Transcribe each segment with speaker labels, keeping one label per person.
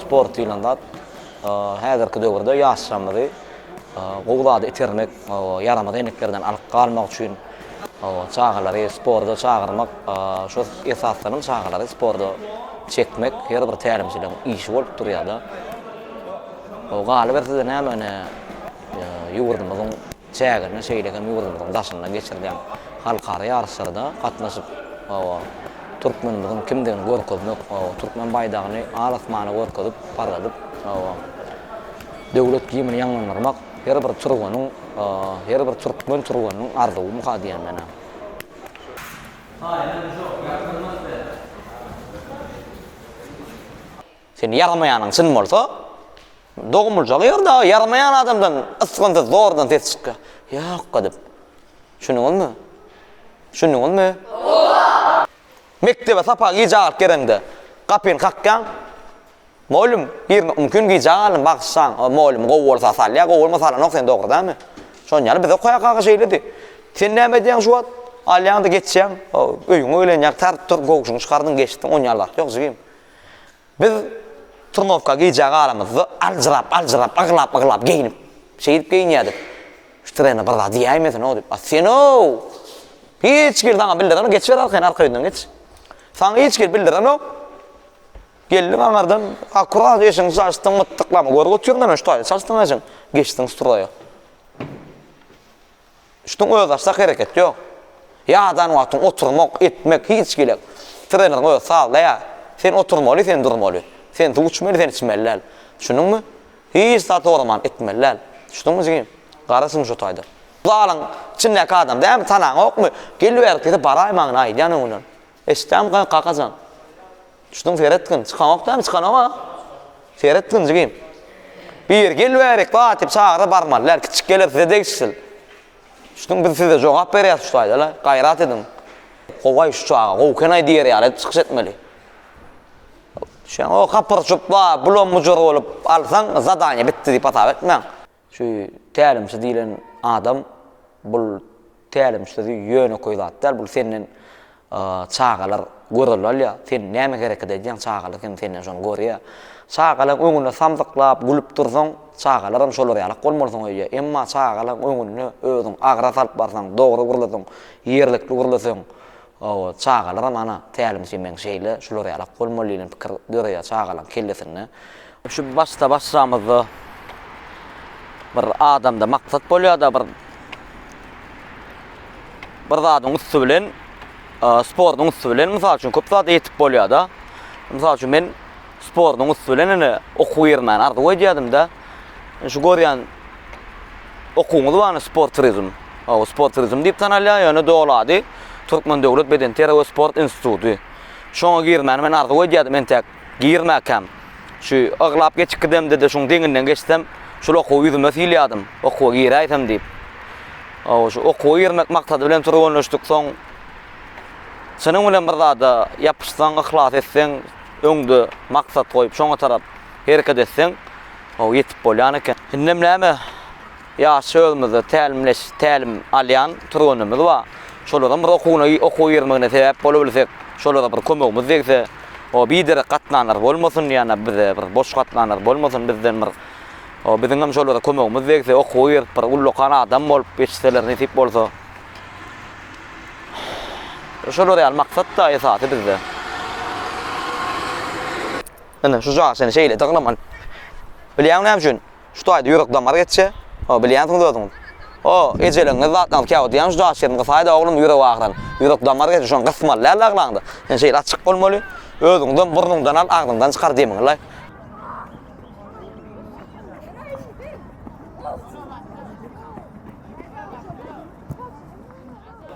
Speaker 1: Sport diýlen zat häzirki döwürde ýaşlarymyzy gowy zady itermek, ýaramaz eneklerden alyp galmak üçin çagalary sporda çagyrmak, şol esasdanam çagalary sporda çekmek her bir tälimçiniň işi bolup durýar-da. Galyber size näme ine ýurdumyzyň çäginde, şeýle hem ýurdumyzyň daşynda geçirilýän halkara ýaryşlarda gatnaşyp, türkmenimiziň kimdigini görkezmek, türkmen baýdagyny al-asmana görkezip parladyp, Döwlet gimni ýaňlandyrmak her bir türgeniň, her bir türkmen türgeniniň arzuwy muha diýenden-ä. Sen ýaramaýanyň çyn bolsa, dogumljak ýer dagy, ýaramaýan adamdan ysgynsyz zordan ses çykýar. Ýokka diýip. Düşündiňizmi? Düşündiňizmi? Mekdebe sapa gije galyp gereňde, gapyny kakýaň. Mugallym, birine umkün gijä galdym bagyşlaň, o mugallym gowy bolsa salýar, gowy bolmasa salanok sen dogry dämi? Şonuň ýaly bize kaýakaga şeýledi. Sen näme edýäň şu wagt? Alýaňda geçýäň, öýüňe öýlenýäň tar tur gowşuňy çykardyň geçdiň on ýaly wagt ýok jigim. Biz turnowka gijä galamyzda aljyrap aljyrap aglap aglap geýnip şeýdip geýinýädik. Şu trener bir zat diýäýmesin-ow diýip. A sen-ow! Hiç kim saňa bildirenok geçiber arkaýyn arka ýüzünden geç. Saňa hiç kim bildirenok. Geldiň aňardan, akurat eşigiň çaşdyň mytdyklama, görgi otyr näme şu taýda çaşdyň eşiň, geçdiň stroýa. Şuň özbaşdak hereket ýok. Ýadan wagtyň oturmak, etmek hiç gilek. Trener öz sazlaýar. Sen oturmaly, sen durmaly. Sen suw içmeli, sen içmeli däl. Düşündiňmi? Hiç zat soraman etmeli däl. Düşdüňmi jigim? Garaşyň şu taýda. Zalyň içindäki adam dämi, tanaňokmy? Geliber, bize baraýmagyny aýdýan öňünden. Eşitdämikä kakajan? Düşdüň seretgin, çykanok dämi, çykanok-a? Seretgin jigim. Biri gel bärik, bat diýip çagyrdy, barmaly däl, kiçi geler size degişsiz. Düşdüň, biz size jogap berýäs şu taýda-la, gaýrat ediň. Gowaý şu çaga, gowy eken-aý diýer ýaly edip çykyş etmeli. Düşýäňiz, o kapyrjyp, ba, bulam-bujur bolup alsaň, zadaniýe bitdi diýip hasap etmäň. Şu tälimçi diýlen adam bul tälimçi sözi ýönekeý zat däl, bul senden çagalar görelde alýar, sen näme hereket edýäň çagalar hem senden şony görýär. Çagalaň öňünde samsyklap gülüp dursaň, çagalaram şolar ýalak bolmalysyň öýdýär. Emma çagalaň öňünde özüň agyra salyp barsaň, dogry gürleseň, ýerlikli gürleseň, Hawa, çagalaram ana, tälimçi meň şeýle, şular ýalak bolmaly diýlen pikir döreýär çagalaň kellesinde. Şu başda-başlamyzda bir adamda maksat bolýar-da, bir bir zadyň üsti bilen, sportuň üsti bilen, mysal üçin, köp zada ýetip bolýar-da. Mysal üçin, men sportuň üsti bilen ine, okuw ýerime arzuw edýärdim-de. Şu görýän okuwyňyz barmy sport turizm? Hawa, sport turizm diýip tanalýar, ýöne doly ady Türkmen döwlet bedenterbiýe we sport instituty. Şoňa girmäni men arzuw edýärdim, entäk girmäkäm, şu aglap geçip gidemde-de şuň deňinden geçsem, şol okuwy ýüzüme sylýardym, okuwa giräýsem diýip. Hawa, şu okuwa girmek maksady bilen türgenleşdiksoň, çynyň bilen bir zada ýapyşsaň, yhlas etseň, öňde maksat goýup, şoňa tarap Hereket etseň, how ýetip bolýan eken. Indem näme, ýaşça özümizde tälimleş, tälim alýan türgenlerimiz bar. Şolaram bir okuwyna, okuw girmegine sebäp bolubilsek, şolara bir kömegimiz degse, o biderek gatnanlar bolmasyn, ýa-da bize bir boş gatnanlar bolmasyn, bizden bir o biziňem şolara kömegimiz degse, okuwa girip bir ullakan adam bolup ýetişseler nesip bolsa. Şolar ýaly maksat-da esasy bizde. Ine, şu jaý seni şeýle dygnaman. Bilýäňmi näme üçin? Şu taýda ýürek damary geçse, o, bilýänsiňiz özüňiz. O, ejeligiňiz zatlaňyz käwagt diýýän şu jaý şirin gysaýda oglum ýürek agyran. Ýürek damary geçse, şony gysmaly däldi aglaňda. Ine şeýle açyk bolmaly. Özüňizem burnuňdan al, agzyňdan çykar demiňi-laý.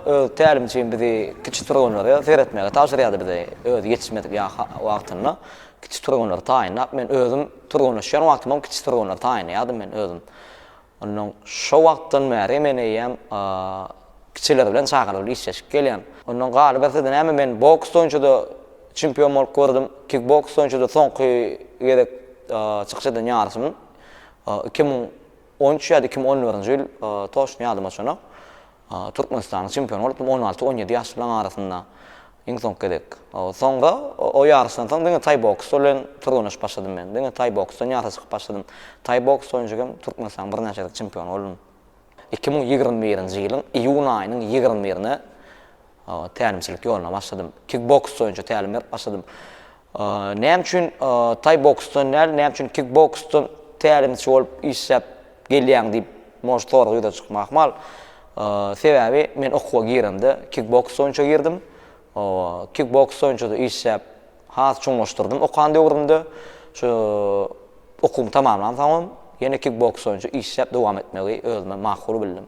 Speaker 1: Öz tälimçim bizi kiçi türgenlere seretmegi tabşyrýardy bize özi ýetişmedik ýaş wagtynda kiçi türgenleri taýynlap men özüm türgenleşýän wagtymam kiçi türgenleri taýynlaýardym men özüm ondan şo wagtdan bäri men eýýäm kiçiler bilen çagalar bilen işleşip gelýän ondan galybersede näme men boks boýunçada çempion bolup gördüm kik boks boýunçada soňky gezek çykyş eden ýaryşym iki müň on üç ýa-da iki müň on dördünji ýyl toçny ýadyma çonok Türkmenistanyň çempiony bolup, on alty, on ýedi ýaşlylaryň arasynda iň soňky gezek. Soňra o ýaryşdan soň diňe taý boksy bilen türgeneşip başladym men. Diňe taý boksdan ýaryşa çykyp başladym. Taý boks boýunça hem Türkmenistanyň birnäçe gezek çempiony boldum. Iki müň ýigrimi birinji ýylyň iýun aýynyň ýigrimi birine tälimçilik ýoluna başladym. Kik boks boýunça tälim berip başladym. Näme üçin taý boksdan däl, näme üçin kikboksdan tälimçi bolup işläp gelýäň diýip, может, sorag ýüze çykma ahmal. Sebäbi men okuwa giremde kikboks boýunça girdim. Kikboks boýunça-da işläp, has çuňlaşdyrdym okan döwrümde. Şu okuwymy tamamlansoňam, ýene kikboks boýunça işläp dowam etmegi özüme makul bildim.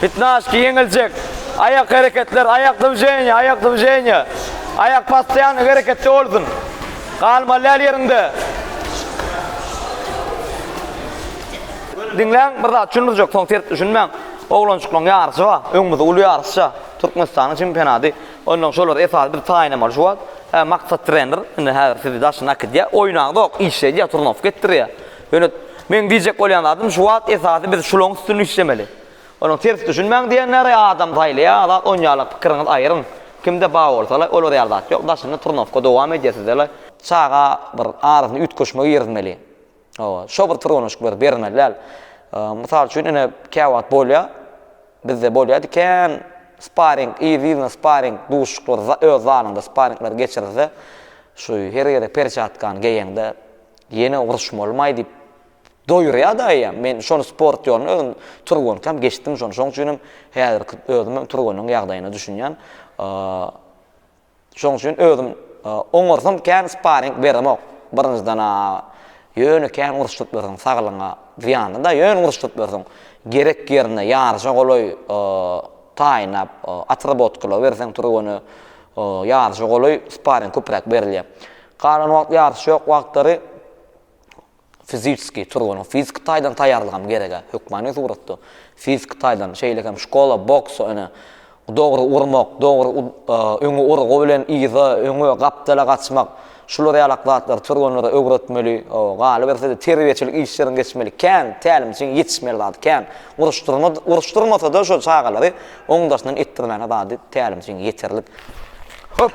Speaker 1: Pitnaşki ýeňiljek. Aýak hereketler, aýak dwiženiýe, aýak dwiženiýe. Aýak postoýanno hereketde bolsun. Galmaly däl ýeriňde. Diňläň, bir zat düşündirjek, soň ters düşünmäň. Oglanjyklaň ýaryşy bar. Öňümizde uly ýaryş çar. Türkmenistanyň çempionaty. Onnoň şolary esasy bir taýynlamaly şu wagt. Hä, Maksat trener, indi häzir sizi daşyna äkidýär. Oýnaňzok, işledýär, turnowka etdirýär. Ýöne meň diýjek bolýan zadym şu wagt esasy biz şulaň üstünde işlemeli. Onuň ters düşünmäň diýenleri adam saýlaýar zat on ýarlyk pikiriňiz aýryň. Kimde ba bolsala olar ýaly zat ýok daşynda turnowka dowam edýär sizele. Çaga bir arasyna üýtgeşme girizmeli. Hawa şo bir turonyşk bir bermeli däl. Mysal üçin ine käwagt bolýar bizde bolýar diken sparing yz yzyna sparing duşuşyklar öz zalyňda sparingler geçirilse şu her ýere perçatkany geýeňde Ýene uruşmalymaý diýip doýurýa-da eýýäm. Men şony sport ýoluna özüm turgenkam geçdim şony. Şoň üçin hem häzirki özüm hem turgenyň ýagdaýyna düşünýän. Şoň üçin özüm oňarsam kän sparing beremok. Birinjiden-ä ýöne kän uruşdyryp ýörseň saglygyňa zyýanly-da. Ýöne uruşdyryp ýörseň gerek ýerinde ýaryşa golaý taýynlap otrabotkalap berseň turgeny ýaryşa golaý sparing köpräk berilýär. Galan wagt ýaryş ýok wagtlary fiziski turganyň fiziki taýdan taýýarlygam gerek-ä, hökmany suratda fiziki taýdan, şeýle hem şkola boksa ene dogry urmak, dogry öňe urgy bilen yza, öňe, gapdala gaçmak, şular ýalak zatlary türgenlere öwretmeli, galyberse-de terbiýeçilik işleriň geçmeli, kän, tälimçiň ýetişmeli zady kän. Uruşdyrma, uruşdyrmasa-da şo çagalary oň daşyndan etdirmäne zady tälimçiň ýeterlik. Höp!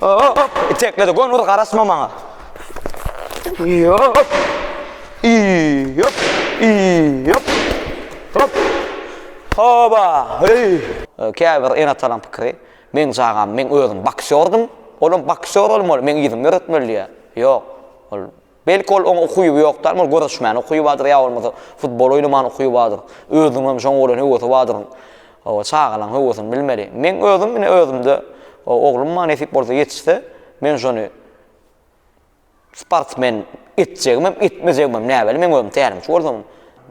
Speaker 1: Hop, itekledi. Gon ur garasma maňa. Hop. İyi, hop. İyi, hop. Hop. Hoba. Hey. Käbir ene talan pikri. Men çagam, men özüm baksyordum. Olam baksyr olmaly, men yzym öretmeli diýär. Ýok. Ol Belki ol oňa ukyby ýokdar, ol göreşmäne ukyby bardyr ýa bolmasa futbol oýnamana ukyby bardyr. Özüniň hem şoňa bolan höwesi bardyr. Hawa, çagalaň höwesini bilmeli. Meň özüm ine özümde oglum maňa nesip bolsa ýetişse, men şony sportsmen etjegimem, etmejegimem näbelli, meň özüm tälimçi bolsam,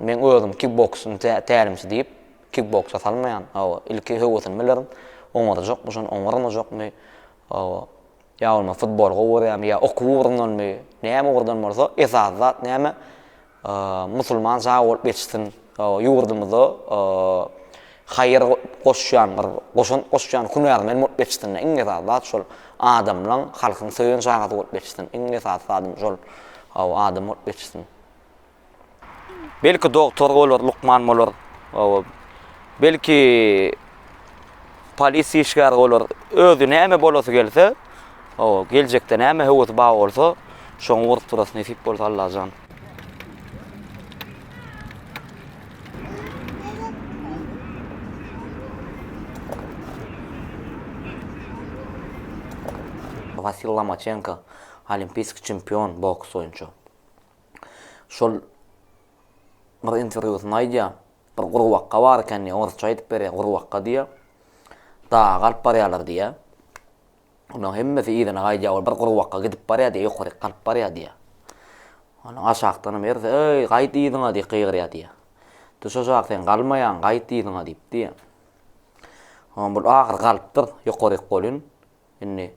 Speaker 1: meň özüm kikboksyň tälimçi diýip, kikboksa salmaýan. Hawa, ilki höwesini bilerin, oňarjakmy şony, oňarmajak my? Hawa. Ýa bolmasa futboly gowy görýärmi, ýa okuw ugrundanmy, näme ugurdan bolsa, esasy zat näme, musulman sag bolup ýetişsin, ýurdumyza haýyr goşýan, bir goşant goşýan hünärmen bolup ýetişsin, iň esasy zat şol. Adamlaň, halkyň söýen çagasy bolup ýetişsin, iň esasy zadym şol. Hawa, adam bolup ýetişsin. Belki doktor bolar, lukman bolar. Owa. Belki polis işgäri bolar. Özi näme bolasy gelse, owa, geljekde näme höwesi bar bolsa, şoňa urup durasy nesip bolsa Allajan. Wasil Lomaçenko, olimpiýsk çempion boks boýunça. şol bir interwýusynda aýdýar, bir gurbakga bar eken diýýär, orsça aýdyp berýär, gurbakga diýýär, daga alyp barýarlar diýýär. Olaryň hemmesi yzyna gaýdýar, ol bir gurbakga gidip barýar diýýär, ýokaryk galyp barýar diýýär. Onsoň aşakdanam birisi, Eý, gaýt yzyňa diýip gygyrýar diýýär. Düş aşak, sen galmaýaň, gaýt yzyňa diýip diýýär. Onsoň bul ahyry galypdyr, ýokaryk bolýun, indi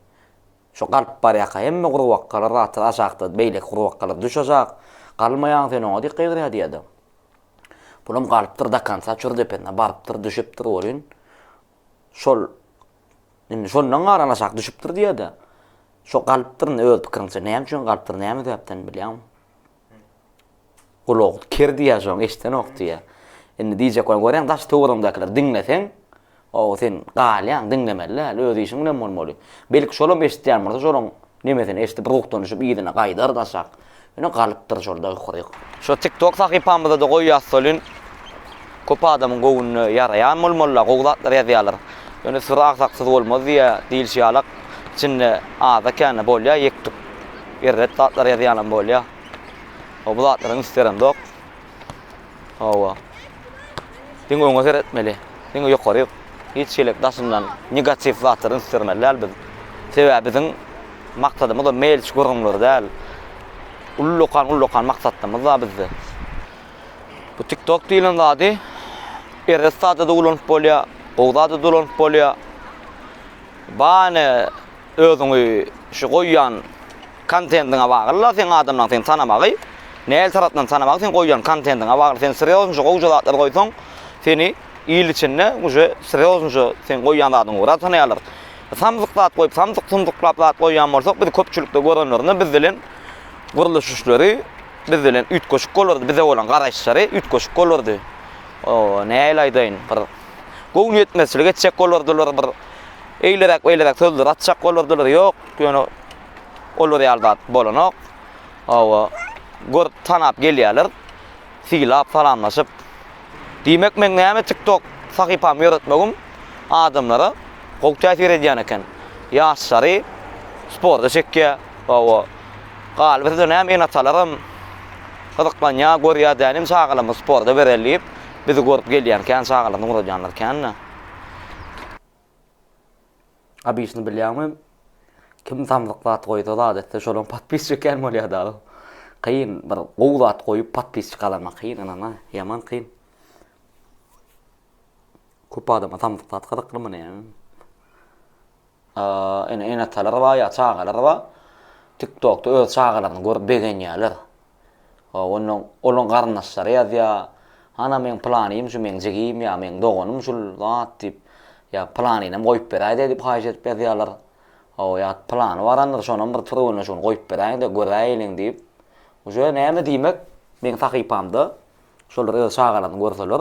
Speaker 1: Şu galyp barýaka hemme gurbakgalar zatlar aşakda beýleki gurbakgalar düş aşak galmaýaň sen oňa diýip gygyrýa diýýädi. Bulam galypdyr dakansa çür depesine barypdyr düşüpdir welin şol indi şondan galan aşak düşüpdir diýýädi. Şo galypdyr indi öz pikiriňçe näme üçin galypdyr näme sebäpden bilýäňmi? Ulag ker diýýär şoň eşdenok diýýär. Indi diýjek bolan görýäň daş töweregiňdäkiler diňleseň ow sen galýaň diňlemeli däl öz işiň bilen bolmaly. Belki şolam eşitýän bolsa şolaň nemesini eşdip ruhdanyşyp yzyna gaýdar daşak. Ýöne galypdyr şol daýyk-huýyk. Şo tiktok sahypamyzada goýýas welin. Köp adamyň göwnüne ýaraýan bolmalylar, gowy zatlar ýazýarlar. Ýöne syry agsaksyz bolmaz diýýä diýilşi ýalak, içinde aza-känä bolýa ýek-tük, erbet zatlar ýazýanam bolýa. Hawa, bu zatlaram isterimzok. Hawa. Diňe öňe seretmeli. Diňe ýokary. Hiç hili daşyndan negatiw zatlary istirmeli däl biz. Sebäbi biziň maksadymyz-a meýilçi gürrüňler däl. Ullakan-ullakan maksatlarymyz bar bizde. Bu TikTok diýlen zady erbet zada-da ulanyp bolýar, gowy zada-da ulanyp bolýar. Bany özüňi şu goýýan kontendiňe bagly-la seň adamlaryň seni tanamagy. Nähili tarapdan tanamagy seň goýýan kontendiňe bagly. Sen srýoznja gowja zatlar goýsaň, seni il içinde uje srýoznja seň goýýan zadyňy gura tanaýarlar. Samsyk zat goýup, samsyk-sumsyklap zat goýýan bolsak, bizi köpçülikde görenlerinde biz bilen gurluş işleri Biz bilen üýtgeşik bolardy, bize bolan garaýyşlary üýtgeşik bolardy. O, nähili aýdaýyn, bir göwün ýetmezçilik etjek bolardylar, bir eýleräk-beýleräk sözler atjak bolardylar. Ýok, ýöne olar ýaly zat bolanok. Hawa, görüp-tanap gelýärler. Sylap, salamlaşyp, Diýmek meň näme tiktok sahypamy ýöretmegim adamlara gowy täsir edýän eken. Ýaşlary sporta çekýär. Hawa. Galyba size näme ene-atalaram gyzyklanýar, görýär däl indi çagalarymyzy sporta bereli diýip, bizi görüp gelýän kän çagalarymyzy ugradýanlar kän-dä. Abyşny bilýäňmi? Kim samsyk zat goýsa adatda şonuň podpisçik kän bolýar dagy. Kyn bir gowy zat goýup podpisçik galanmak kyn ynana ýaman kyn. Köp adama samsyk zat gyzykly muny. Ene ene atalar bar ýa çagalar bar. TikTokda öz çagalaryny görüp begenýärler. Hop, onda olaň garyndaşlary ýazýar. Hana meň pylanym şu, meň jigim ýa meň doganym şul zat diýip, ýa pylanynam goýup beräý-de diýip haýyş edip ýazýarlar. Hop, ýa pylany barandyr, şonam bir türgenleşigini goýup beräýiň-de, göräýeliň diýip. Uje näme diýmek, meň sahypamda şolar öz çagalaryny görseler,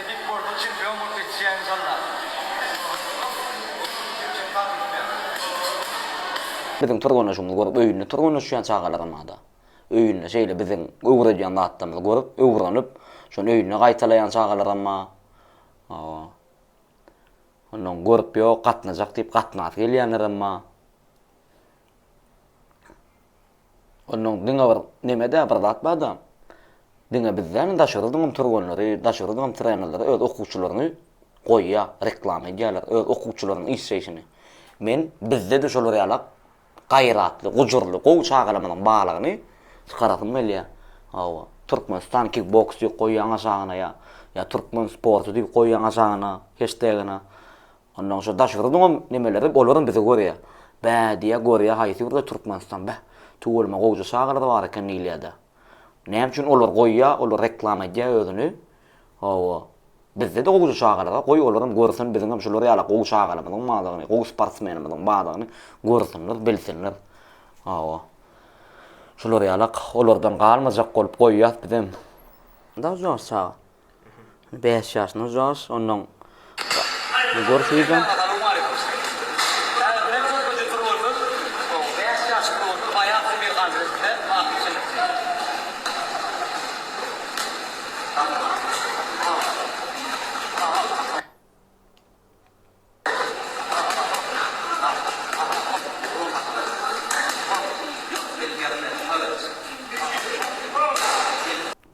Speaker 1: Epic World çempion bolup ýetişýä inşallah. Biziň tyrganyşymyzy görüp öýünde tyrganyşýan çagalaramada öýünde şeýle biziň öwredýän zatlarymyzy görüp öwrenip şony öýünde gaýtalaýan çagalaramma ondan görüp ýok gatnajak diýip gatnasy gelýänleremma. Onnoň diňe bir neme-dä bir zat bar-da, diňe biz däl, daşary ýurduňam türgenleri, daşary ýurduňam trenerleri öz okuwçylaryny goýýar, reklama edýärler, öz okuwçylarynyň işleýşini. Men bizde-de şolar ýalak gaýratly, gujurly, gowy çagalarymyzyň barlygyny çykarasym gelýär. Hawa, Türkmenistan kikboks diýip goýýaň aşagyna ýa ýa türkmen sporty diýip goýýaň aşagyna, heştegine. Ondan soň daşgyrdyňam nemeleri olaram bizi görýä. Bä diýýä görýä haýsy ýurda Türkmenistan beh. Tüweleme gowja çagalar bar eken diýilýädä. Näme üçin olar goýýa olar reklama edýä özüni. Hawa. Bizde-de gowja çagalar goý olaram görsün biziňem şular ýaly gowy çagalarymyzyň bardygyny gowy sportsmenimiziň bardygyny görsünler bilsinler. Hawa. Şular ýalak olardan galmajak bolup goýýas bizem. Daş ýaş çaga. Bäş ýaşyna Jorj, ondan gurs iýjek.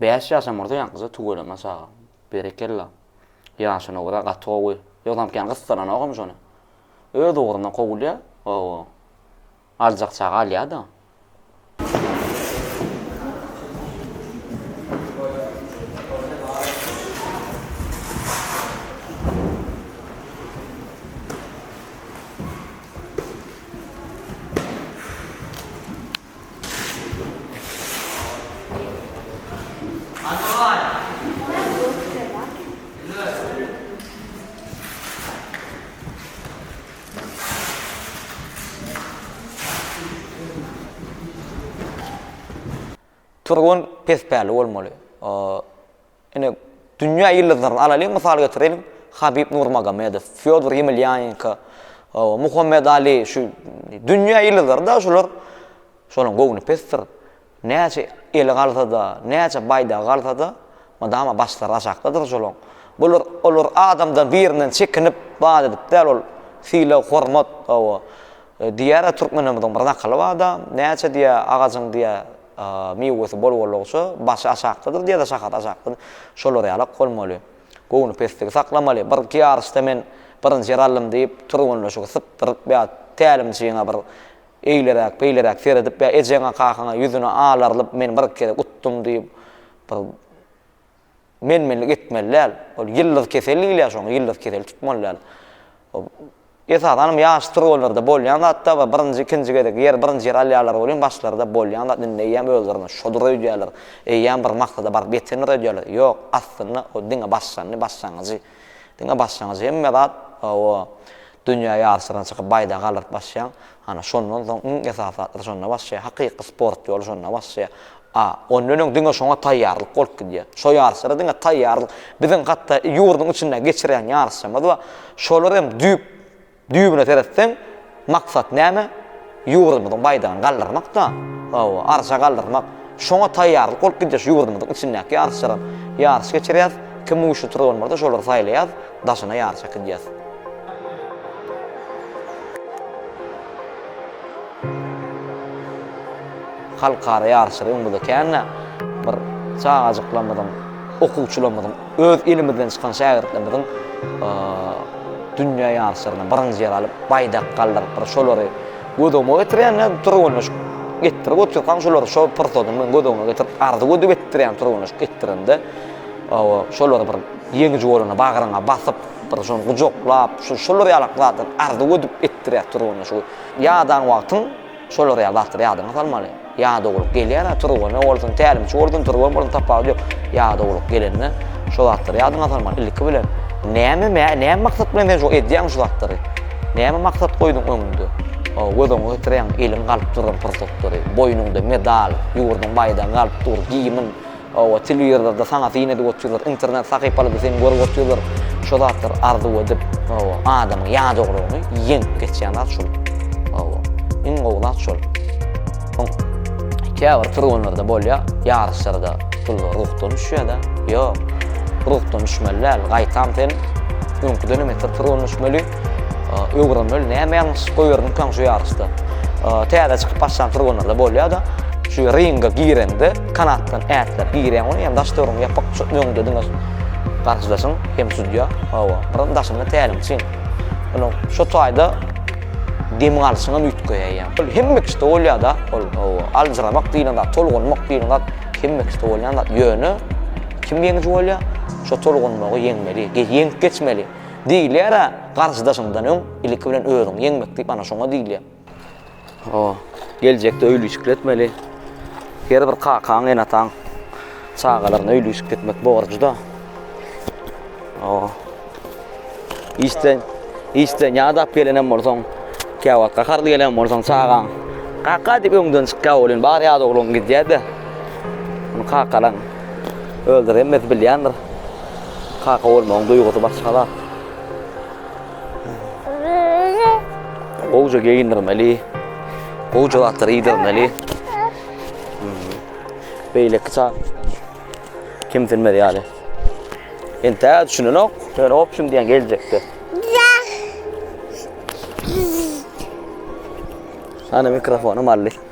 Speaker 1: Bäş ýaşam bolsa ýaňkyja tüweleme çaga. Berekella. Ýaşy nogra gaty gowy. Ýogsam kän gyssananogam şony. Öz ugruna kowulýa. Hawa. Aljak çaga alýada. Turgun pes päli bolmaly. Ine, dünýä ýyldyzlaryny alalyň, mysal getireliň, Habib Nurmagomedow, Fýodor Ýemilýanenko, Muhammet Ali, şu dünýä ýyldyzlary-da şular, şolaryň göwni pesdir. Näçe eli galsa-da, näçe baýdagy galsa-da, mydama başlary aşakdadyr şolaň. Bular, olar adamdan birinden çekinip, bad edip däl, ol sylag, hormat, hawa, diýýär-ä türkmenlerimiziň bir nakyly bar-da, näçe diýýä, agajyň diýýä, miwesi bol-bolugça, başy aşakdadyr diýýä-de, şahasy aşakdadyr. Şolar ýalak bolmaly. Göwni pesligi saklamaly. Birki ýaryşda men birinji ýer aldym diýip, türgenleşigi sypdyryp ýa tälimçiňe bir Eýleräk, beýleräk seredip ýa ejeňe, kakaňa ýüzüne alarylyp men bir gezek utdum diýip bir menmenlik etmeli däl. Ol ýyldyz kesel diýilýär şoňa, ýyldyz keseli tutmaly däl. Ol esasan hem ýaş trollarda bolýan zat da we birinji, ikinji gezek ýer, birinji ýer alýarlar welin başlarynda bolýan zat indi eýýäm özlerine şodur öýdýärler, eýýäm bir maksada baryp ýetendir öýdýärler. Ýok, aslynda ol diňe başlandy, başlangyjy. Diňe basjaňyz hemme zat, hawa, dünýä ýaryşlaryna çykyp baýdagy aldyryp basýaň. Hany, şondan soň iň esasy zatlar şonda başlaýar. Hakyky sport ýoly şonda başlaýar. A, ondan öň diňe şoňa taýýarlyk bolup gidýär. Şo ýaryşlara diňe taýýarlyk. Biziň hatda ýurduň içinde geçirýän ýaryşlarymyz bar. Şolar hem düýp Düýbüne seretseň, maksat näme? Ýurdumyzyň baýdagyny galdyrmak-da. Hawa, arşa galdyrmak. Şoňa taýýarlyk bolup gidýäs. Ýurdumyzyň içindäki ýaryşlara ýaryş geçirýäs. Kim güýçli turban bolsa, şolary saýlaýas, daşyna ýaryş äkidýäs. Halkara ýaryşlary öňümizde kän-ä. Bir çagajyklarymyzyň, okuwçylarymyzyň. Öz ilimizden çykan şägirtlerimiziň dünýä ýaryşlarynda birinji ýer alyp, baýdak galdyrypdyr. Şolary göz öňüme getirýän nädip türgenleşik etdirip otyrkaň, şolary şo pursatym bilen göz öňüme getirip, arzuw edip etdirýän türgenleşik etdirende, hawa, şolary bir ýeňiji bolanda bagryňa basyp, bir şony gujaklap, şu şolar ýalak zatlar arzuw edip etdirýär türgenleşigi. Ýadaň wagtyň. Şolar ýa bassyr ýadyňa salmaly. Ýadawlyk gelýär-ä Turgene bolsun, tälimçi bolsun, türgen bolsun tapawudy ýok. Ýadawlyk gelende şo zatlary ýadyňa salmaly. Ilki bilen, näme mä, näme maksat bilen sen şo edýäň şu zatlary? Näme maksat goýduň öňüňde? Göz öňüňe getirýäň, eliň galyp duran pursatlary, boýnuňda medal, ýurduň baýdagy galyp dur, gimn, Hawa telewizorda saňa syn edip otyrlar, internet sahypalarda seni görüp otyrlar, şo zatlar arzuw edip, hawa, adamyň ýadawlygyny ýeňip geçýän zat şol. Hawa, iň gowy zat şol. Soň käbir türgenlerde bolýar, ýaryşlarda pullar ruhdan düşýär-de, ýok, ruhdan düşmeli däl, gaýtam sen öňküden hem beter türgenleşmeli. Öwrenmeli, näme ýalňyşlyk goýbermikaň şu ýaryşda. Täze çykyp başlan furgonlarda bolýar-da. Şu ringe girende kanatdan ätläp girýäň ony, ýa-da daş töweregiňi ýapyk tutup öňde diňe garşydaşyň hem sudýa, hawa, bir daşynda tälimçiň. Ýöne şu taýda dem alşyňam üýtgeýär. Ol hemme kişide bolýar-da, ol hawa, aljyramak diýlen zat, tolgunmak diýlen zat hemme kişide bolýan zat. Ýöne kim ýeňiji bolýar? Şu tolgunmagy ýeňmeli, ýeňip geçmeli. Diýilýär-ä, garşydaşyňdan öň, ilki bilen özüňi ýeňmek diýip, ana şoňa diýilýär. Ho, geljekde öýlüjikli etmeli. Her bir kakaň, enataň çagalaryna öýlüjikli etmek borjuda. Ho. Işden, işden ýadap gelenem bolsaň, käwagt gaharly gelen bolsaň çagaň, kaka diýip öňden çykýar welin, bar ýa ogluň gidýär-de, kakaň öldüremez bilýändir. Kaka bolmagyň duýgusy başga zat. Gowja geýindirmeli. Gowja zatlary iýdirmeli. Beýleki çag kimsinmez ýaly. Entä düşünenok. Sen opşum diýen geljekde. Ana mikrofonu malli.